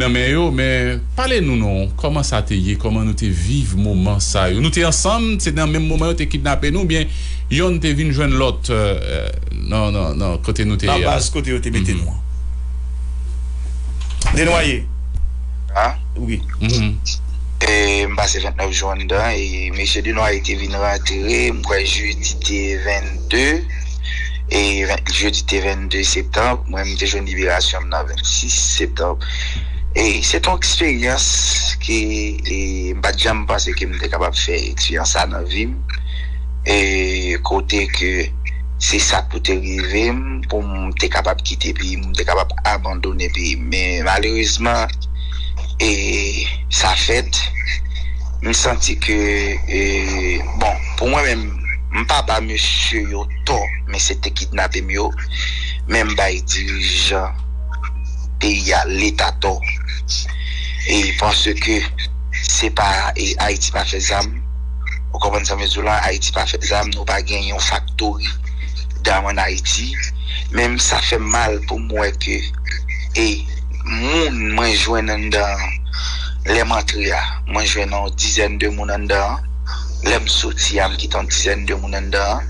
Nan men yo men pale nou non kòman sa te ye kòman nou te viv moman sa yo nou te ansanm se nan menm moman yo te kidnape nou oubyen yonn te vin jwenn lòt nan nan nan kote nou te ye a. Nan baz kote yo te mete nou an. Denoye, wi. M pase 29 jou anndan e mesye Denoye te vin rantre m kwè jedi te 22. e jodi te 22 septanb mwen mte jwenn liberasyon m nan 26 septanb e se te yon eksperyans ke m pat janm panse ke m te kapab fè eksperyans sa nan vi m e kote ke se sa pou te rive m pou m te kapab kite peyi m pou m te kapab abandone peyi m men malerezman e sa fèt m santi ke bon pou mwen menm M pa ba mesye yo tò men se te kidnape m yo men m bay dirijan peyi a leta tò e paske se pa e ayiti pa fè zam ou konprann sa m vle di w la ayiti pa fè zam nou pa gen yon faktori dam an ayiti men m sa fè m mal pou m wè ke e moun mwen jwenn anndan an lè m antre a mwen jwenn yon dizèn de moun anndan an. Lè m soti a m kite yon dizèn de moun anndan an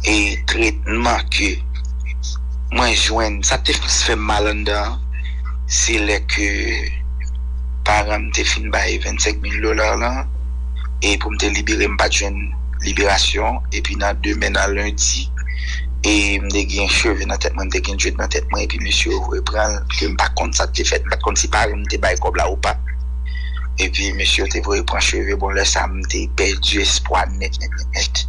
e tretman ke mwen jwenn sa te plis fè m mal anndan an se lè ke paran m te fin bay 25 mil dola lan e pou m te libere m pa t jwenn liberasyon epi nan demen nan lendi e m te gen cheve nan tèt mwen m te gen dread nan tèt mwen epi mesye yo repran l ke m pa t konn sa k te fèt m pa t konn si paran m te bay kòb la ou pa. epi mesye yo te voye pran cheve bon lè sa m te pèdi espwa nèt nèt nèt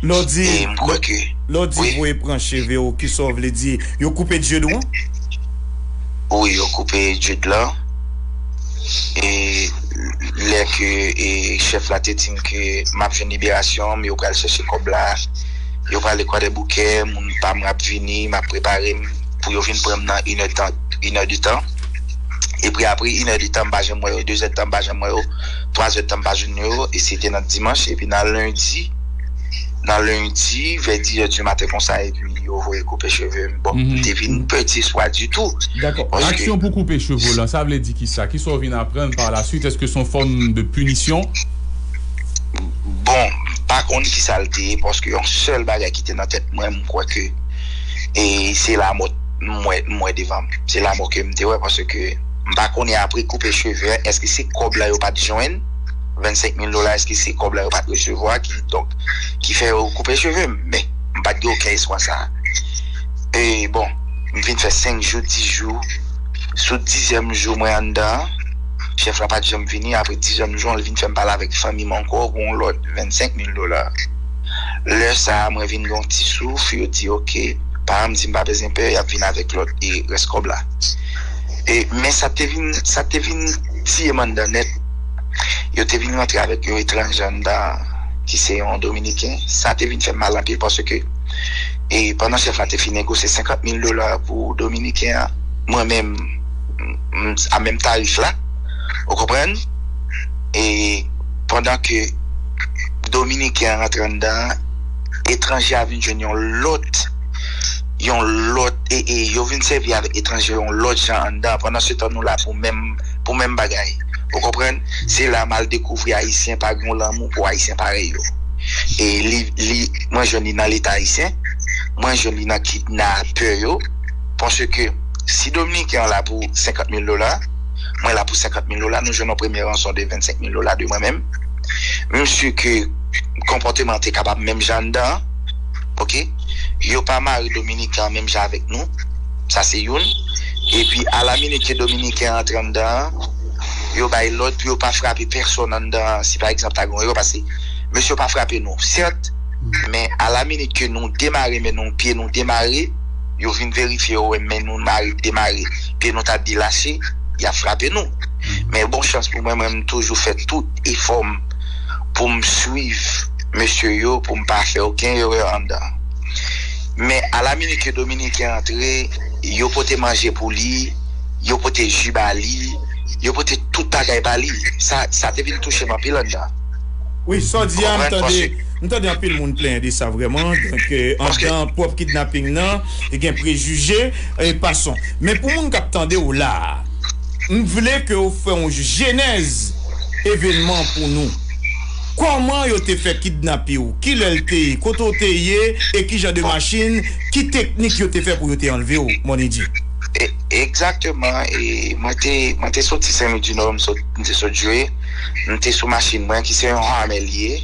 nèt e m kwè ke Lè w di voye pran cheve w kisa w vle di yo koupe Dieu dou an? Wi yo koupe Dieu dou lan e lè ke chèf la te di m ke m ap jwenn liberasyon m yo pral chèche kòb la yo prale kwadèboukè moun pa m ap vini m ap prepare m pou yo vin pran m nan inè inè de tan. Epri apri inè de tan m pa janm wè yo, dezè de tan m pa janm wè yo, twazè de tan m pa jann wè yo, e se te nan dimanch, epi nan lendi, nan lendi vè dizè di maten konsa epi yo voye koupe cheve m, bon m te vin pèdi espwa ditou. Dakò, aksyon pou koupe cheve w lan sa vle di kisa? Kisa w vin aprann par la swit? Eske se yon fòm de pinisyon? Bon, m pa konn kisa l te ye paske yon sèl bagay ki te nan tèt mwen m kwè ke e se lamò. m wè m wè devanm se lamò kem te wè paske m pa konnen apre koupe cheve an eske se kòb la yo pat jwenn 25 mil dola eske se kòb la yo pat resevwa ki donk ki fè yo koupe chevem men m pat gen oken espwa sa e bon m fin fè 5 jou 10 jou sou dizyèm jou mwen anndan an chèf la pat janm vini apre dizyèm jou an li vin fèm pale avèk fanmim ankò gon lòt 25 mil dola. Lè sa a, mwen vin gen yon ti souf, yo di ok. Paran m di m pa bezwen pè, y ap vin avèk lòt e rès kòb la. E, men sa te vin, sa te vin tiye m anndan nèt, yo te vin rantre avèk yon etranje anndan an, ki se yon Dominiken. Sa te vin fè m mal anpil paske, e, pandan chèf la te fin negosye 50 mil dola pou Dominiken an, mwen menm, m, m, a menm tarif la. Ou konprann? E. pandan ke dominiken an rantre anndan an etranje a vin jwenn yon lòt yon lòt e e yo vin sèvi avèk etranje yon lòt jan anndan an pandan se tan nou la pou menm pou menm bagay ou konprann se la mal dekouvri ayisyen pa gen yon lanmou pou ayisyen parèy yo e li li mwen jwenn li nan leta ayisyen mwen jwenn li nan kidnapè yo paske si dominiken an la pou 50 mil dola. mwen la pou 50 mil dola, nou jwenn yon premye ranson de 25 mil dola de mwen menm, m si ke konpòteman an te kapab menm jan anndan an, ok, yo pa mare dominiken an menm jan avèk nou, sa se youn, epi a la minit ke dominiken an antre anndan an, yo bay lòd pou yo pa frape pèsòn anndan an, si pa egzanp ta gen yon erè, paske mesye yo pa frape nou, sèt, men a la minit ke nou demare men nou, pye nou demare, yo vin verifye yo wè men nou mare, demare. ke nou ta di lase, y ap frape nou. Men bon chans pou mwen, mwen m toujou fè tout efò m pou m swiv mesye yo pou m pa fè oken erè anndan. Men a la minit ke Dominiken antre, yo pote manje pou li, yo pote ji ba li, yo pote tout bagay ba li. Sa, sa te vin touche m anpil anndan. Wi, sa w di a, m tande, m tande anpil moun plenyen de sa vrèman. Donk, anndan pwòp kidnaping nan. gen prejije e pason. Men pou moun k ap tande w la a, m vle ke w fè yon jenèz evènman an pou nou. Kòman yo te fè kidnape w? Ki lè l te ye? Kote w te ye? E ki jan de machin? Ki teknik yo te fè pou yo te anlve w, Monedji? Egzakteman, mwen te soti Senlwidinò, m te sot jwe, m te sou machin mwen ki se yon Hammer li ye,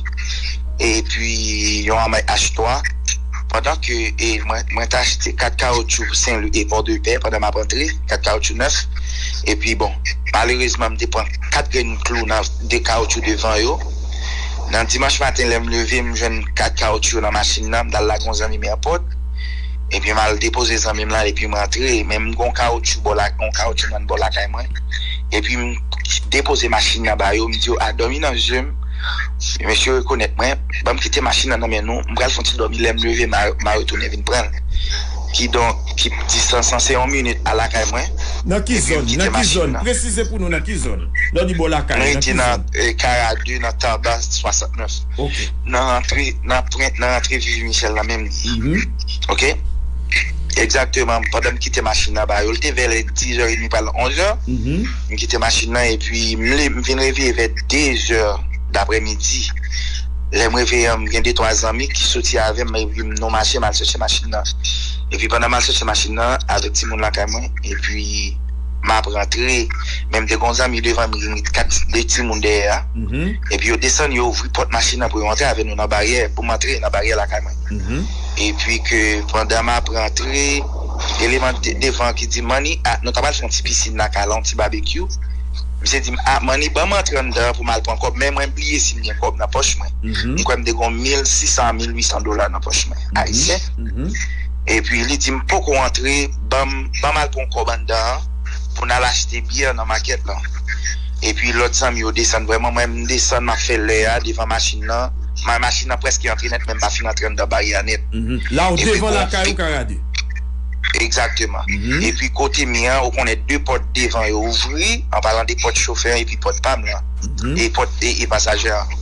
epi yon Hammer H3. Pandan ke mwen t achte 4 kawotchou pou Senlwi e Pòdepè pandan m ap antre, 4 kawotchou nèf. Epi bon, malerezman m te pran 4 grenn klou nan 2 kawotchou devan yo. Nan dimanch maten lè m leve m jwenn 4 kawotchou yo nan machin nan, m t al lage yon zanmi m èpòt. Epi m al depoze zanmi m lan epi m rantre. Men m gen yon kawotchou bò lakay, yon kawotchou nan bò lakay mwen. Epi m depoze machin nan ba yo, m di yo a dòmi nan je m. Mesye yo rekonèt mwen. Banm kite machin nan nan men nou, m pral fon ti dòmi lèm leve ma retounen vin pranl. Kidonk ki distans lan se yon minit a lakay mwen. Nan ki zòn? Nan ki zòn? Presize pou nou nan ki zòn? Lè w di bò lakay ou, nan ki zòn? Mwen rete nan Kara 2 nan Tarba 69. Ok. Nan rantre nan pwen nan rantre Vivi Michel nan menm li. Mph. Ok. Egzakteman pandan m kite machin nan ba yo, li te vè lè 10 è edmi pral 11 è. Mph. M kite machin nan epi m vin reveye vè 2 è. Daprè midi, lè m reveye an, m gen de twa zanmi ki soti avè m epi nou mache m al chèche machin nan. Epi pandan m al chèche machin nan avèk timoun lakay mwen epi m ap rantre men m te gen yon zanmi devan m ki met kat de timoun dèyè a epi yo desann yo ouvri pòt machin nan pou yo antre avè nou nan baryè pou m antre nan baryè lakay mwen epi ke pandan m ap rantre eleman devan ki di m Mannie a nou ta pral fè yon ti pisin lakay la yon ti babekyou. Misye di m, a, Mannie, ban m antre anndan an pou m al pran kòb, men mwen bliye si m gen kòb nan pòch mwen. M kwè m te gon 1600 a 1800 dola nan pòch mwen, ayisyen. Epi li di m, poko antre, ban m, ban m al pran w kòb anndan an pou n al achte byè nan makèt lan. Epi lòt zanmi yo desann, vrèman mwen m desann m ap fè lè a devan machin lan, machin lan prèske antre nèt men m pa fin antre anndan baryè a nèt. La w devan lakay ou, Karade? Egzakteman. Epi kote mi an, ou konnen 2 pòt devan yo ouvri, an palan de pòt chofè an epi pòt pa m lan, e pòt e pasajè an.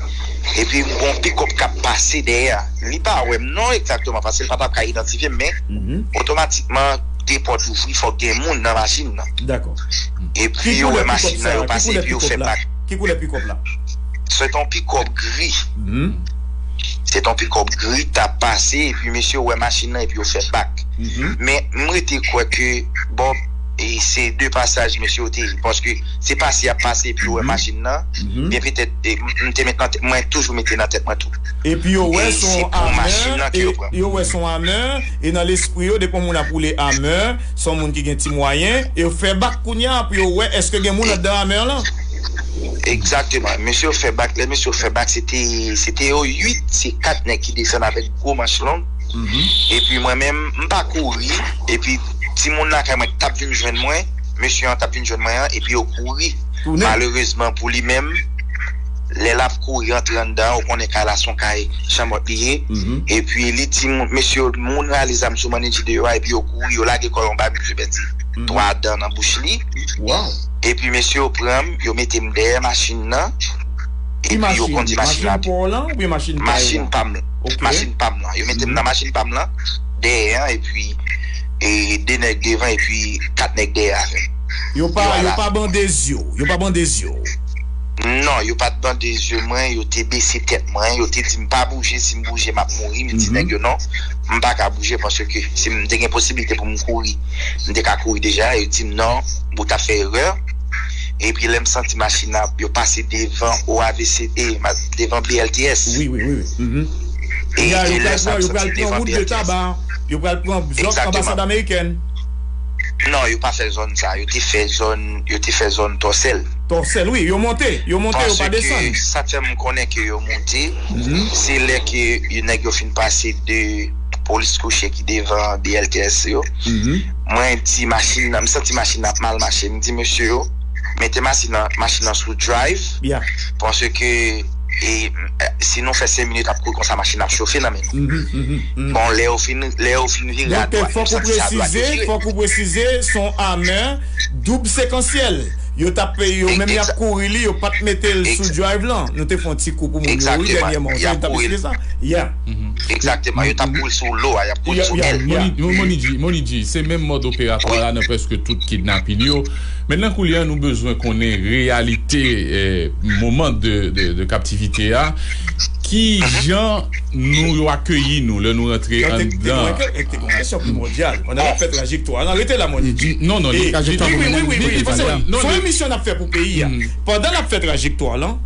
Epi m gon pikòp k ap pase dèyè. Li pa wè m non egzakteman paske l pa t ap ka idantifye m men, otomatikman 2 pòt ouvri fòk gen moun nan machin nan. Dakò. Epi yo wè machin nan, yo pase epi yo fè bak. Ki koulè pikòp la? Se t on pikòp gri. se ton pikòp gri kap pase epi mesye yo wè machin nan epi yo fè bak men m rete kwè ke Bob se de pasaj mesye yo te ye paske se pase yap pase epi yo wè machin nan byen petèt m te met nan tèt mwen toujou mete nan tèt mwen tou epi yo wè son Hummer yo wè son Hummer e nan lespri yo depi yon moun ap woule Hummer son moun ki gen ti mwayen e yo fè bak kounya pou yo wè eske gen moun andan Hummer lan. Exactement mesye yo fè bak lè mesye yo fè bak se te se te yo 8 se 4 nèg ki desann avèk gwo manch long epi mwen menm m pa kouri epi timoun lakay mwen ki tap vin jwenn mwen mesye an tap vin jwenn mwen an epi yo kouri malerezman pou li menm lè lap kouri antre anndan an ou konnen kay la se yon kay chanmòt li ye epi li di mesye yo moun rale zam sou mannij li deyò a epi yo kouri yo lage kò yo anba misye pèdi 3 dan nan bouch li. Epi mesye yo pran m, yo mete m dèyè machin nan, epi yo kondi machin nan. Ki machin? Machin pa w lan oubyen machin pa yo an? Machin pa m lan. Ok. Machin pa m lan. Yo mete m nan machin pa m lan, dèyè an, epi de nèg devan epi kat nèg dèyè avè m. Yo pa, yo pa bande zye w? Yo pa bande zye w? Non, yo pa t bande zye mwen, yo te bese tèt mwen, yo te di m pa bouje, si m bouje m ap mouri, m di nèg yo non, m pa ka bouje paske si m te gen posiblite pou m kouri. M te ka kouri deja, yo di m non, ou ta fè erè. Epi lè m santi machin nan ap, yo pase devan OAVC, e, devan BLTS. Wi, wi, wi, wi. Ya, yo pral pran, yo pral pran wout de taba. Yo pral pran zòn anbasad amerikèn. Non, yo pa fè zòn sa a. Yo te fè zòn, yo te fè zòn Tòsèl. Tòsèl, wi. Yo monte, yo monte, yo pa desann. Paske, sa k fè m konnen ke yo monte, se lè ke nèg yo fin pase de. polis kouche ki devan BLTS yo, mwen di machin nan, m santi machin nan ap mal mache, m di mesye yo mete machin nan sou drive, paske si nou fè 5 minit ap kouri konsa machin nan ap chofe nan men nou. Bon, lè yo fin vire a dwat, yo santi se a dwat yo vire. Fòk ou presize, se yon amè doub sekansyèl, yo t ap, yo menm y ap kouri li, yo pa t mete l sou drive lan. Nou te fè yon ti kou pou moun yo wi dènyèman, yo te kouri l. Exactement, yo tap boule sou lo a, yap boule sou èl. Yeah, Moni G, se menm mòd operatwa la nan prèske tout kidnapin yo. Mentnan koulye a nou bezwen konnen reyalite moman de kaptivite a. Ki jan nou yo akeyi nou lè nou rantre anndan? Rete la, Moni G. Moni G, non, non, li fè trajektwa pou li menm. Son emisyon nap fè pou peyi a. Pandan lap fè trajektwa lan.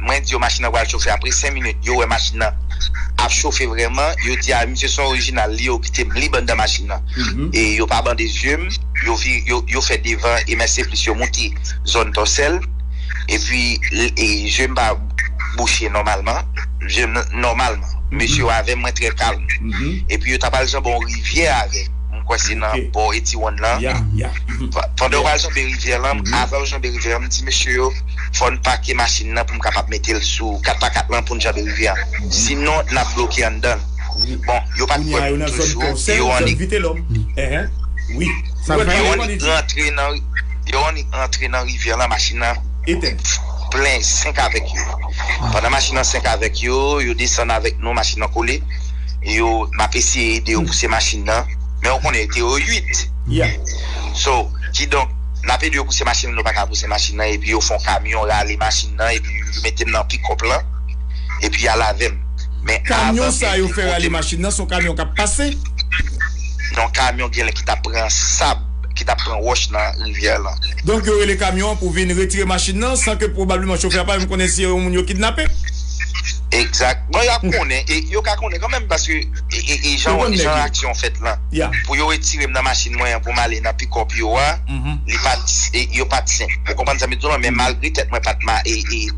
Mwen di yo machin nan pral chofe apre 5 minit yo wè machin nan ap chofe vrèman yo di a misye son orijinal li yo kite m lib anndan machin nan e yo pa bande zye m yo vire yo fè devan e mèseplis yo moute zòn tòsèl epi zye m pa bouche nòmalman zye m nòmalman mesye yo avè m mwen trè kalm epi yo ta pral janbe yon rivyè avè m kwè se nan bò etiwonn lan pandan yo pral janbe rivyè lan avan yo janbe rivyè an m di mesye yo. Fò n pake machin nan pou m kapab mete l sou 4 pa 4 lan pou n janbe rivyè an. Sinon, n ap bloke anndan l. Bon, yo pa t kwè m toujou, e yo annik. Yo annik rantre nan, yo annik rantre nan rivyè an lan machin nan plen senk avèk yo. Pandan machin nan senk avèk yo, yo desann avèk nou, machin nan kole. E yo, m ap eseye ede yo pouse machin nan. Men ou konnen, yo te yo 8. So. Kidonk, n ap ede yo pouse machin nan, yo pa ka pouse machin nan epi yo fè yon kamyon rale machin nan epi yo mete m nan pikòp lan epi y al avè m. Men Kamyon sa yo fè rale machin nan se yon kamyon k ap pase? Non, kamyon genlè ki t ap pran sab, ki t ap pran wòch nan rivyè lan. Donk yo rele kamyon an pou vin retire machin nan san ke pwobableman chofè a pa menm konnen si yo yon moun yo kidnape? Egzat. Bon, y ap konnen, e yo ka konnen kanmenm paske e jan aksyon an fèt lan. pou yo retire m nan machin mwen an pou m ale nan pikòp yo a, li pa t, yo pa t senp. Ou konprann sa m vin di w lan? Men malgre tèt mwen pa t ma,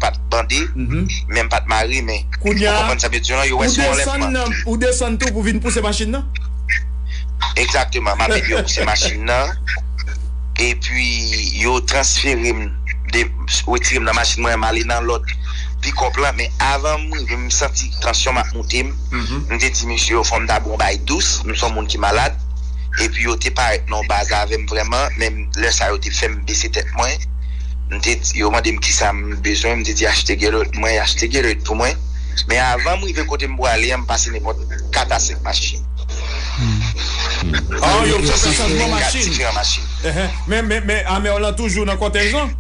pa t bande, men m pa t mare men. Ou konprann sa m vin di w lan? Yo wè se yon anlèvman. Kounya, ou desann tou pou vin pouse machin nan? Egzakteman. M ap ede yo pouse machin nan. Epi, yo transfere m, retire m nan machin mwen an, m ale nan lòt pikòp lan. Men avan m rive, m santi tansyon m ap moute m. M te di mesye yo fò m ta bwè yon bagay dous, m s on moun ki malad, epi yo te parèt nan yon baz avè m vrèman, men lè sa yo te fè m bese tèt mwen, m te di, yo mande m kisa m bezwen, m te di achte Gatorade pou mwen, y achte Gatorade pou mwen, men avan m rive kote m pwale an m pase nenpòt 4 a 5 machin. An, yo fè chanjman machin. Men Amer lan toujou nan kòtèj lan?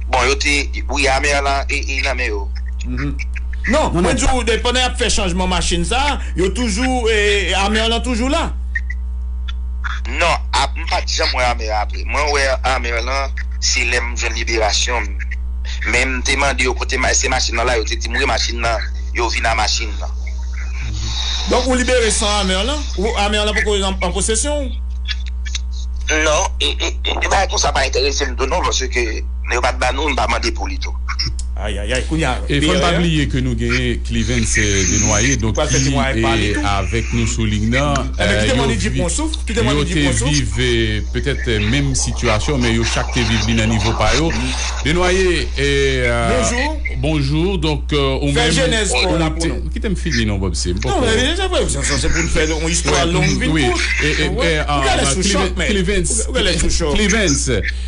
Bon, yo te, wi Amer lan e nan men yo. Non, mwen di w pandan y ap fè chanjman machin sa, yo toujou, Amer lan toujou la? Non, m pa t janm wè Amer apre. Mwen wè Amer lan se lè m jwenn liberasyon m. Men m te mande yo kote se machin lan la, yo te di m wi machin lan, yo vin a machin lan. Donk ou libere san Amer lan? Amer lan poko an posesyon w? Non, e bagay konsa pa enterese m tou non paske. Men yo pat ba nou, nou pa mande pou li tou. Ayayay kounya E fò n pa bliye ke nou genyen Clivens Desnoyers donk ki avèk nou sou ling nan yo te viv petèt menm sitiyasyon men yo chak te viv li nan nivo pa yo Desnoyers bonjour donk ou menm kite m fini non Bob se m poko Clivens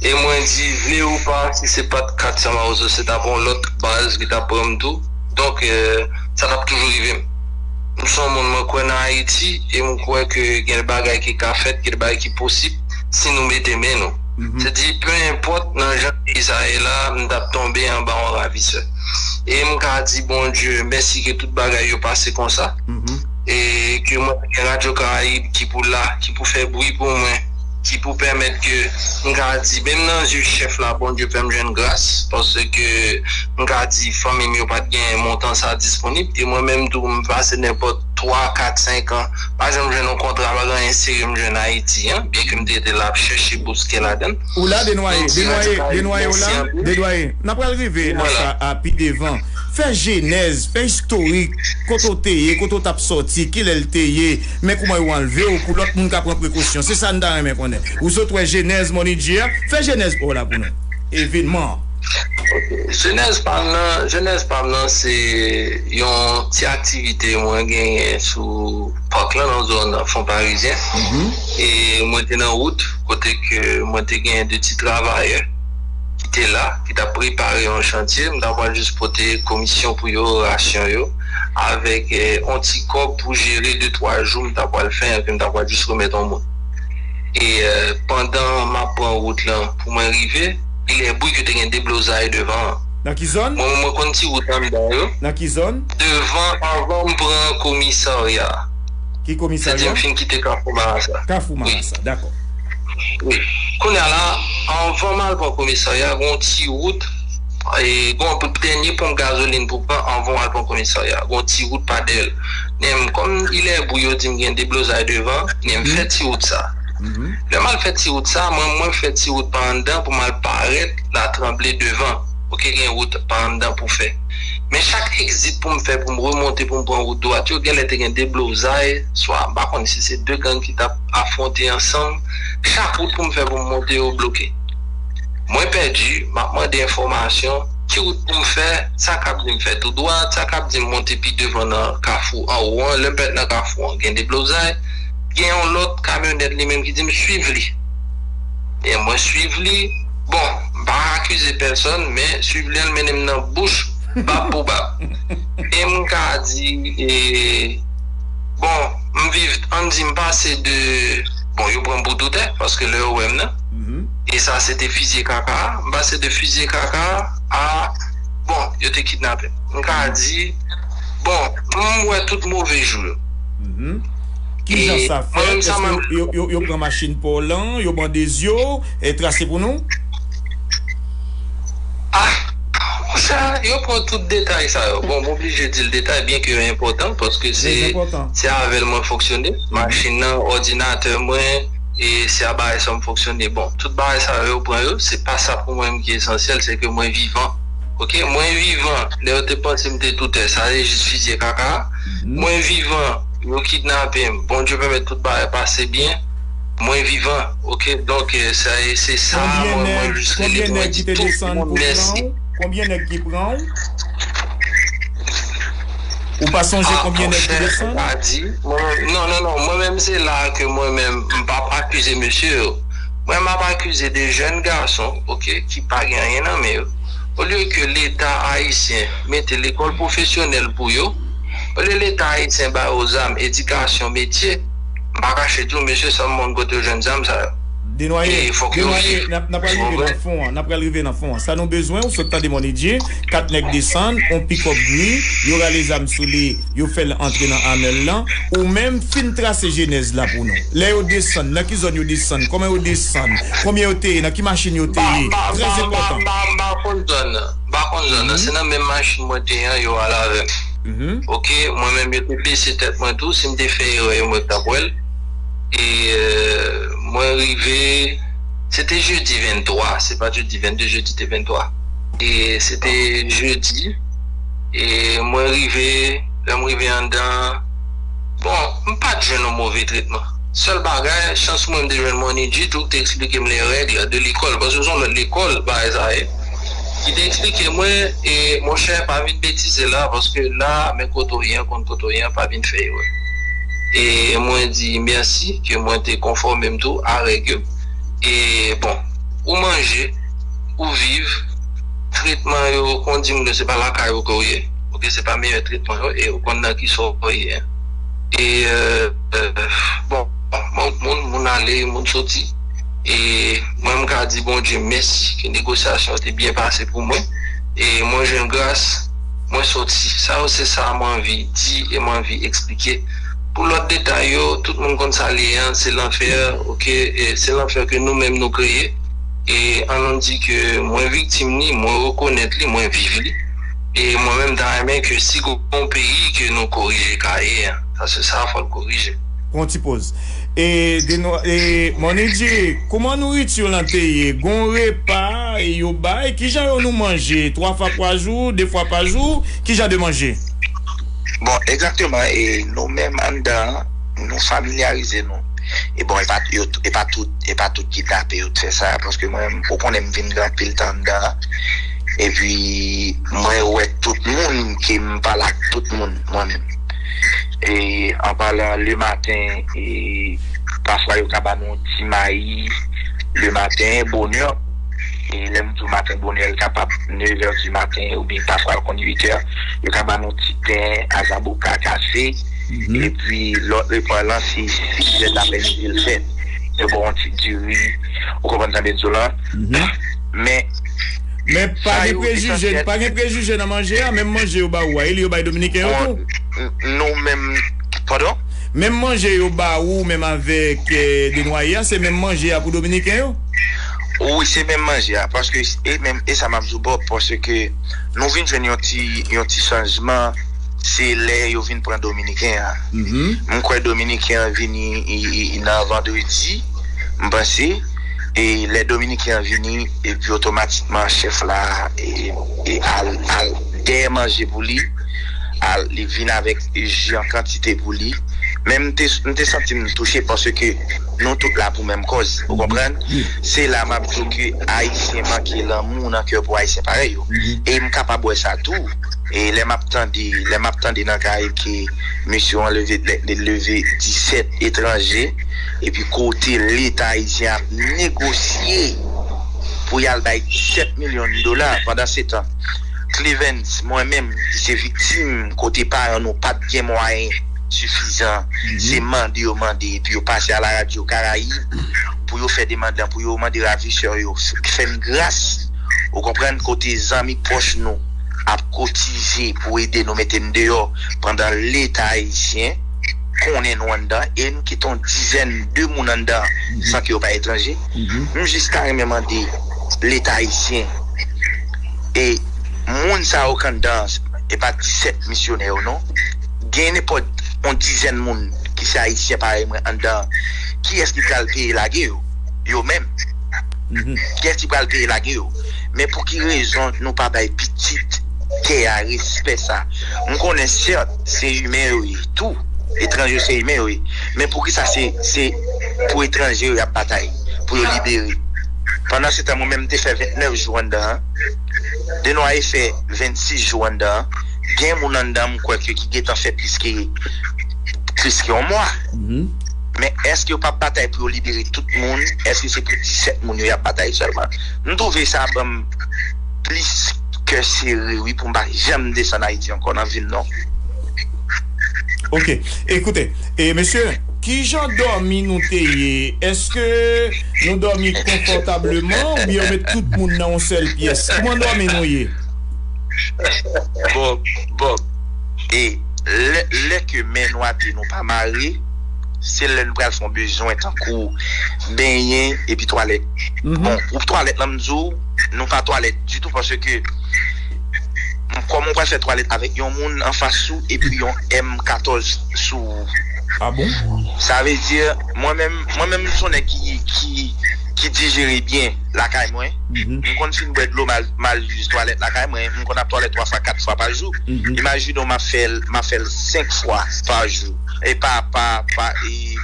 e mwen di vle ou pa si se pat 400 mawozo se tap yon lòt baz ki tap pranm tou donk sa tap toujou rivem m son moun mwen kwè nan ayiti e m kwè ke gen bagay ki ka fèt gen bagay ki posib si nou mete men nou se di pe enpòt nan jan peyi sa ye la m tap tonbe anba yon ravisè e m ka di bondye mèsi ke tout bagay yo pase konsa e ke mwen gen radyo karayib ki pou la ki pou fè bwi pou mwen. ki pou pèmèt ke m ka di menm nan zye chèf la Bondye fè m jwenn gras paske m ka di fanmi m yo pat gen montan sa disponib e mwen menm tou m pase nenpòt 3, 4, 5 an pa janm jwenn yon kontra pa gen anyen serye m jwenn Ayiti an byen ke m te rete la ap chèche bouske ladan l. Ou la Desnoyers? Desnoyers, Desnoyers ou la? Desnoyers, n ap pral rive nan sa a pi devan. Fè jenèz, fè istorik kote w te ye, kote w t ap sòti, kilè l te ye? Men kouman yo anlve w pou lòt moun ka pran prekosyon. Se sa n ta renmen konnen. Ou sot wè jenèz Money Dye a. Fè jenèz pa w la pou nou. Evenman an. Ok. Jenèz pa m nan, jenèz pa m nan se yon ti aktivite mwen genyen sou Park lan, nan zòn Fonparizyen. E mwen te nan wout kote ke mwen te genyen 2 ti travayè ki te la, ki t ap prepare yon chantye. M ta pral jis pote komisyon pou yo, rasyon yo. avèk yon ti kòb pou jere de twa jou m ta pwal fè anpi m ta pwal jis remèt yon moun e pandan m ap pran wout lan pou mwen rive li lè bri ke te gen deblozay devan an Nan ki zòn? Mwen menm mwen konn ti wout anndan yo Nan ki zòn? Devan anvan m pran komisarya Ki komisarya? Se di m fin kite kafou marasa Kafou marasa dakò Wi Kounye a la anvan m al pran komisarya gen yon ti wout. Gon anpil dènye ponp gazolin pou pran anvan w al pran komisarya. Gon ti wout pa dèyè l. Men m kòm Ilèbou yo di m gen deblozay devan, men m fè ti wout sa. Lè m al fè ti wout sa, mwen mwen fè ti wout pa anndan pou m al parèt Latranble devan. Ok gen wout pa anndan pou fè. Men chak egzit pou m fè pou m remonte pou m pran wout dwat yo genlè te gen deblozay swa m pa konn si se 2 gang ki t ap afwonte ansanm. Chak wout pou m fè pou m monte yo bloke. Mwen pèdi, m ap mande enfòmasyon, ki wout pou m fè, sa k ap di m fè tou dwat, sa k ap di m monte pi devan nan kafou anwo an, lè m fèt nan kafou an gen deblozay, gen yon lòt kamyonèt li menm ki di m swiv li, byen mwen swiv li, bon m pa akize pèsòn men swiv li an l mennen m nan bouch bab pou bab e m ka di e bon m viv an n di m pase de bon yo pran m pou toutè paske lè yo wè m nan. e sa se te fizye kaka a m pase de fizye kaka a bon yo te kidnape m m ka di bon m wè tout move jou yo kijan sa fèt èske yo pran machin pa w lan yo bandez yo trase pou nou a monchè yo pran tout detay sa yo bon m oblije di l detay byen ke yo enpòtan paske se avè l mwen fonksyone machin nan òdinatè mwen. E se a bagay sa m fonksyone. Bon, tout bagay sa yo, yo pran yo. Se pa sa pou mwen ki esansyèl, se ke mwen vivan. Ok, mwen vivan. Lè yo te panse m te toutè, sa se jis fizye kaka a. Mwen vivan, yo kidnape m. Bondye pèmèt tout bagay pase byen. Mwen vivan. Ok, donk, sa e, se sa a mwen, mwen jis rele pou mwen di tout moun mèsi. Konbyen nèg ki te desann pou pran ou? Konbyen nèg ki pran ou? Ou pa sonje konbyen nèg ki desann? Ah monchè, ou pa di mwen, non, non, non, mwen menm se la a ke mwen menm m pa p akize mesye yo. Mwen m ap akize 2 jèn gason, ok, ki pa gen anyen nan men yo. Olye ke Leta Ayisyen mete lekòl pwofesyonèl pou yo, olye Leta Ayisyen ba yo zam, edikasyon, metye, m pa kache di w mesye san m pa konn kote yo jwenn zam sa yo. Denwaye, Denwaye, n apral rive nan fon an, n apral rive nan fon an. Sa nou bezwen, ou sot tande mon Edye, 4 nèg desann, on pikòp gri, yo rale zam sou li, yo fè l antre nan Amèl lan. Ou menm, fin trase jenèz la pou nou. Lè yo desann, nan ki zòn yo desann, kòman yo desann, konbyen yo te ye, nan ki machin yo te ye, trè enpòtan. M pa konn zòn nan, m pa konn zòn nan. Se nan menm machin mwen te ye an yo al avè m. Ok, mwen menm yo te bese tèt mwen tou, si m te fè erè yo menm yo t ap wè l. e mwen rive se te jedi 23 se pat jedi 22 jedi te 23 e se te jedi e mwen rive lè mwen rive andan bon m pat jwenn yon move tretman sèl bagay chans mwen m te jwenn Mòn Idjit tou ki te eksplike m lè règ la de lekòl paske se yon lòt lekòl bagay sa ye ki te eksplike mwen e monchè pa vin betize la paske la men kote w ye an konn kote w ye an pa vin fè erè. e mwen di merci ke mwen te konfòmem tou a règ yo e bon ou manje ou viv tretman yo kondim ke se pa lakay ou ke ou ye ok se pa meyè tretman yo e ou konn nan ki sa ou ye e bon mwen moun moun ale moun soti e mwen m ka di Bondye mèsi ke negosyasyon te byen pase pou mwen e mwen jwenn gras. Mwen soti. Sa yo se sa m anvi di e m anvi eksplike. Pou lòt detay yo, tout moun konn sa l ye an, se lanfè ok, se lanfè ke nou menm nou kreye e an nou di ke mwen viktim li, mwen rekonèt li, mwen viv li e mwen menm m ta renmen ke si gon peyi ke nou korije Kaye an, paske sa a fò l korije. Pran yon ti poz. E Deno e Moni di, Kouman nouritu lan te ye? Gon repa yo bay? Kijan yo nou manje? Twa fwa kwa jou? De fwa pa jou? Kijan de manje? Bon, egzakteman e nou menm anndan an, nou familyarize nou. E bon, e pa yo e pa tout e pa tout kidnape yo t fè sa, paske mwen menm ou konnen m vin gen anpil tan anndan an, epi mwen wè tout moun ke m pale ak tout moun mwen menm. e anpalan le maten e pafwa yo ka ba nou yon ti mayi le maten bonè e lè m di w maten bonè l kapab nevè di maten oubyen pafwa l konn uitè yo ka ba nou ti pen a zaboka kafe epi lòt repa lan se sizèt aprèmidi l fèt yo ba w yon ti diri ou konprann sa m vle di w la. Men pa gen prejije, pa gen prejije nan manje a, menm manje yo ba ou a, e li yo bay dominiken yo tou? Nou menm, padon? Menm manje yo ba ou menm avèk Desnoyers a, se menm manje a pou dominiken yo? Wi, se menm manje a, paske e menm, e sa map di w bro, paske nou vin jwenn yon ti, yon ti chanjman, se lè yo vin pran dominiken an. Mwen kwè dominiken an vini nan vandredi, m panse. e lè dominiken an vini epi otomatikman chèf la al dèyè manje pou li al li vin avèk ji an kantite pou li men m te santi m touche paske nou tout la pou menm kòz ou konprann se la map di w ke ayisyen manke lanmou nan kè pou ayisyen parèy yo e m kapab wè sa tou e lè map tande lè map tande nan kay ke mesye yo anleve leve 17 etranje. Epi kote leta ayisyen ap negosye pou y al bay 17 milyon dola, pandansetan Clevens, mwen menm ki se viktim kote paran nou pa t gen mwayen sifizan, se mande yo mande epi yo pase a la radyo Karayib pou yo fè demand lan, pou yo mande ravisè yo fè n gras, ou konprann, kote zanmi pwòch nou ap kotize pou ede nou mete n deyò pandan leta ayisyen. konnen nou anndan e n kite yon dizèn de moun anndan san ke yo pa etranje, m jis ta renmen mande leta ayisyen e moun sa yo k anndan an, e pa 17 misyonè yo non, gen nenpòt yon dizèn moun ki se ayisyen parèy mwen anndan an, kiyès ki pral peye lage yo? Yo menm. Kiyès ki pral peye lage yo? Men pou ki rezon nou pa bay pitit tè a respè sa? M konnen sèt. Se imen yo ye tou. Etranje yo se imen yo ye. Men poukisa se pou etranje yo y ap batay pou yo libere? Pandansetan mwen menm m te fè 29 jou anndan an, Denoye fè 26 jou anndan an, gen moun anndan m kwè ke ki gentan fè plis ke plis ke yon mwa. Men èske yo p ap batay pou yo libere tout moun? Èske se pou 17 moun yo y ap batay sèlman? M twouve sa ban m. plis kè sere wi poum pa janm desann ayiti ankò nan vim non. Ok e koute e mesye kijan dòmi nou te ye eske nou dòmi konfòtableman ou byen yo met tout moun nan yon sèl pyès kouman dòmi nou ye. Bob Bob e lè lè ke men nou ate nou pa mare se lè nou pral fon bezwen tankou benyen epi twalèt bon pou twalèt lan m di w Nou pa twalèt ditou paske kòman ou pral fè twalèt avèk yon moun anfas ou epi yon M 14 sou ou. Ah bon? Sa vle di mwen menm, mwen menm m son nèg ki dijere byen lakay mwen, m konn fin bwè dlo mal use twalèt lakay mwen, m konn ap twalèt 3 fwa 4 fwa pa jou, imajine w map fèl map fèl 5 fwa pa jou e pa pa pa e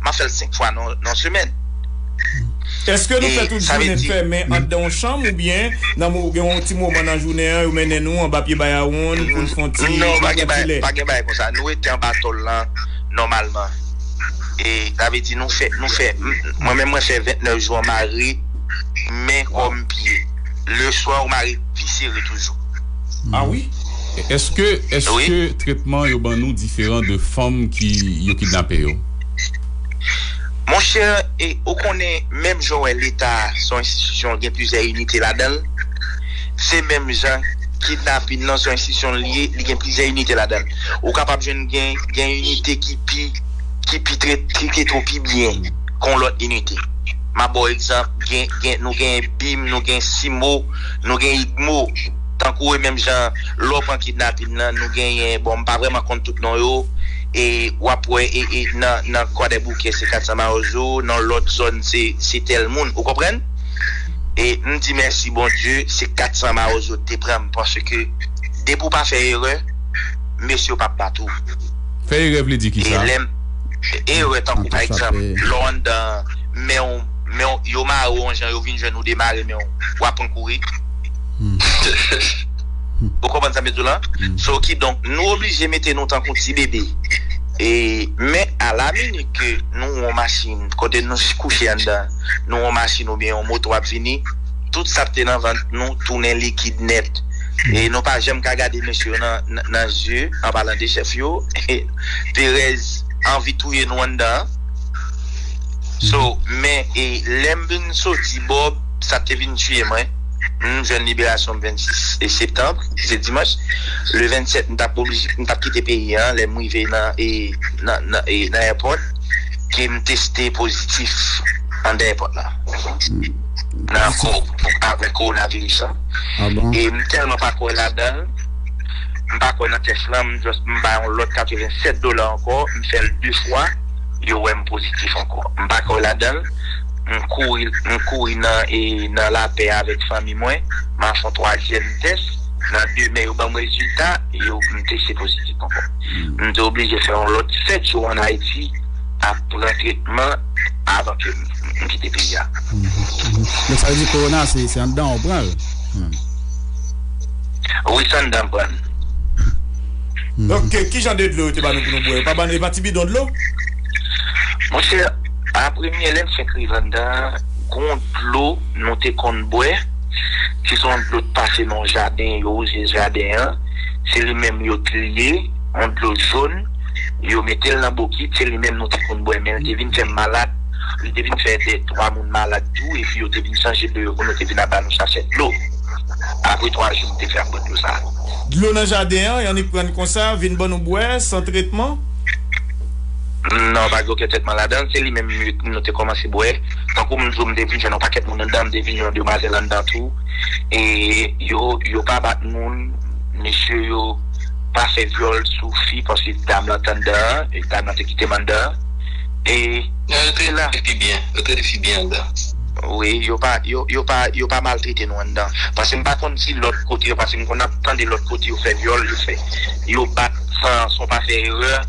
map fèl 5 fwa nan semèn. Eske nou fè tout jounen fèmen andan yon chanm ou byen nan mo gen yon ti moman nan jounen an yo mennen nou anba pye bayawonn poun fon ti non pa gen bagay pa gen bagay konsa nou rete anba tòl lan nòmalman e sa vle di nou fè nou fè mwen menm mwen fè 29 jou an mare men kòm pye leswa ou mare pi sere toujou. Ah wi? Eske eske tretman yo ban nou diferan de fanm ki yo kidnape yo? Monchè e ou konnen menm jan w wè leta se yon enstitisyon gen plizyè inite ladan l se menm jan kidnapin nan se yon enstitisyon li ye li gen plizyè inite ladan l ou kapab jwenn gen gen inite ki pi ki pi trete ou pi byen ke yon lòt inite m ap ba w egzanp gen gen nou gen bim nou gen simo nou gen idmo tankou e menm jan lè w pran kidnapin nan nou genyen bon m pa vrèman konn tout non yo. E wap wè nan kwadèboukè se 400 mawozo nan lòt zòn se tèl moun ou konprann e m di mèsi bondye se 400 mawozo te pranm paske depi ou pa fè erè mesye yo pap bat ou Fè erè vle di kisa? e lèm erè tankou pa egzanp lè w anndan menw menw yo mare w yon jan yo vin jwenn ou demare menw wap pran kouri. Ou konprann sa m vle di w lan? So kidonk nou oblije mete nou tankou ti bebe. E men a la minit ke nou won machin kote nou kouche anndan, nou won machin oubyen yon moto ap vini, tout sa k te nan vant nou tounen likid nèt. E nou pa janm ka gade mesye yo nan zye, an palan de chèf yo. Perèz anvi touye nou anndan an. So men e lè m vin soti Bob sa te vin tiye mwen. Humm jèn liberasyon m 26 septanb se dimanch le 27 m tap oblije m tap kite peyi an lèm rive nan e nan e nan èpòt kem teste pozitif andan èpòt la nan akò avèk kowonaviris lan e m tèlman pa kwè ladanl m pa kwè nan tès lan m just m bay yon lòt 87 dola ankò m fèl 2 fwa yo wèm pozitif ankò m pa kwè ladanl. M kouri nan lapè avèk fanmi mwen. M a fè yon twazyèm tès. Nan demen, yo ban m rezilta e yo di m teste pozitif ankò. M te oblije fè yon lòt sèt jou ann Ayiti ap pran tretman avan ke m kite peyi a. Donk sa vle di kowona se anndan an ou pran l? Wi, se anndan m pran l. Donk, kijan de dlo yo te ba nou pou nou bwè? Yo pa ban nou, e pa ti bidon dlo? Monchè! A Premye lè m fenk rive anndan an, gon dlo nou te konn bwè, ki son dlo t pase nan yon jaden, yo wouze jaden an, se li menm yo t li ye, yon dlo jón, yo mete l nan bokit, se li menm nou te konn bwè, men l te vin fè m malad, li te vin fè 2, 3 moun malad tou, epi yo te vin chanje dlo yo pou nou, te vin ap ba nou sachè dlo. Apre 3 jou m te fè ap bwè dlo sa. Dlo nan jaden an, y annik pran l konsa, vin ban nou bwè, san tretman? Non, pa gen okenn tretman ladann. Se li menm nou te kòmanse bwè. Tankou m di w, m te vin jwenn yon pakèt moun anndan, m te vin jwenn yon demwazèl anndan tou. E yo pa bat moun. Mesye yo pa fè vyòl sou fi paske dam lan te anndan an. Dam lan te kite m anndan an. E se la. Yo trete fi byen anndan. Wi. Yo pa maltrete nou anndan. Paske m pa konn si lòt kote yo, paske m konn ap tande lòt kote yo fè vyòl, yo fè. Yo bat san w pa fè erè.